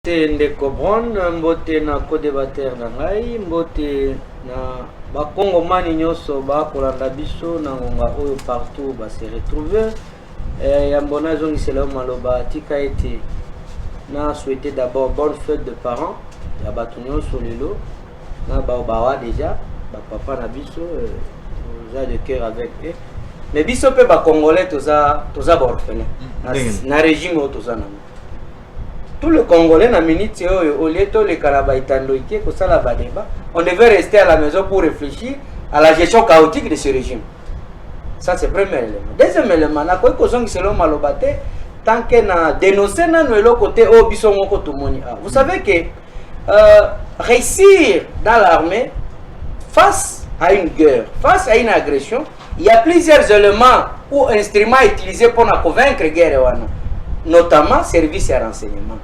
Mbote ndeko Bron, mbote na co-debatteur na ngai, mbote na bakongomani nyonso bakolanda biso na ngonga oyo partout ba se retrouver. Eh, yambo nazongisela yo maloba tika ete na souhaiter d'abord bonne fête de parents ya bato nyonso lelo na bao bawa déjà bapapa na biso eh, toza de cœur avec eux mais biso mpe bacongolais toza toza baorphelin na, Ndenge nini? na régime oyo toza nango tout le congolais na minute oyo au lieu toleka na baitandoike kosala badeba on devait rester à la maison pour réfléchir à la gestion chaotique de ce régime ça c'est premier élément deuxième élément nakoki kozongisa eloo maloba te tant que na dénonce nano eloko te oyo biso moko tomoni awa vous savez que euh, réussir dans l'armée face à une guerre face à une agression Il y a plusieurs éléments ou instruments utilisés pour na convaincre guerre wana, notamment service ya renseignement.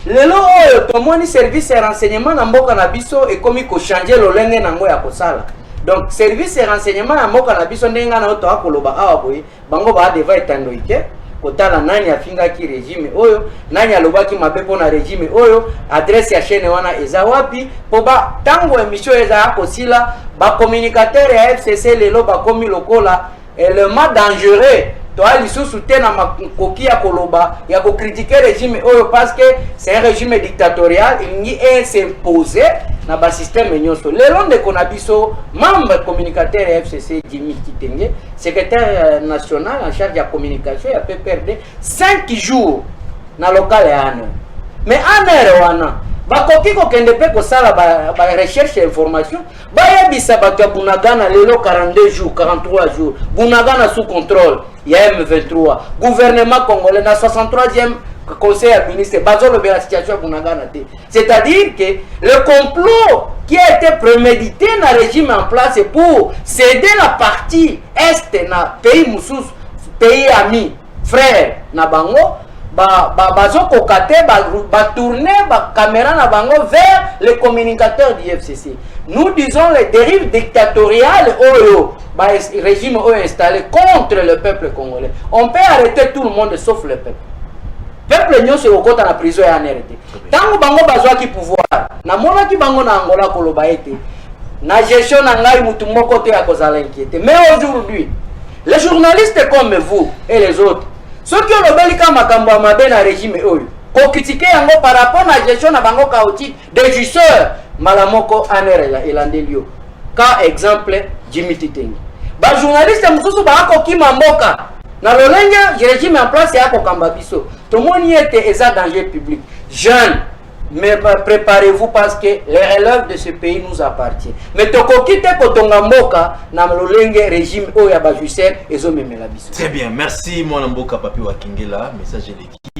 Lelo oyo tomoni service ya renseignement na mboka na biso ekomi ko changer lolenge nango ya kosala. Donc service ya renseignement ya mboka na biso ndenge na oto akoloba awa boye, bango ba devant etando ike kotala nani afingaki regime oyo nani alobaki mabe mpo na regime oyo adresse ya chaîne wana eza wapi mpo ba ntango emission eza ya kosila bacommunicateur ya fcc lelo bakomi lokola element eh, dangereux toya lisusu te na makoki ya koloba ya kokritike regime oyo parce que c'est un régime dictatorial elingi esimpose na basysteme nyonso lelo ndeko na biso membre communicateur ya fcc jimi kitenge secrétaire euh, national en charge ya communication ya pprd 5 jours na lokale ya aner mais aner wana bakoki kokende mpe kosala barecherche ba ya information bayebisa bato ya bunagana lelo 42 jours 43 jours bunagana sous contrôle ya m23 gouvernement congolais na 63e conseil ya ministre bazolobela situation ya bunagana te c'est-à-dire que le complot qui a été prémédité na régime en place pour céder la partie est na pays mosusu pays ami frère na bango ba, ba, bazokoka te batourne ba bacaméra na bango vers les communicateurs du fcc nous disons les dérives dictatoriales oyo ba régime oyo installé contre le peuple congolais on peut arrêter tout le monde sauf le peuple peuple nyonso ekokota na prison ya anr te ntango bango bazwaki pouvoir namonaki bango na angola koloba ete na gestion na ngai motu moko te akozala inquiété mais aujourd'hui Les journalistes comme vous et les autres, soki olobeli kaka makambo ya mabe na regime oyo, kokritike yango par rapport na gestion na bango chaotique de jouisseur, mbala moko anere elandeli yo. Ka exemple Jimmy Titengi. Bajournaliste mosusu bakokima mboka na lolenge regime en place ya kokamba biso. Tomoni ete eza danger public. Jeune mais préparez-vous parce que les relèves de ce pays nous appartient mais tokoki te kotonga mboka na lolenge régime oyo ya bajuser ezomemela biso très bien merci mwana mboka papi wakingela message eleki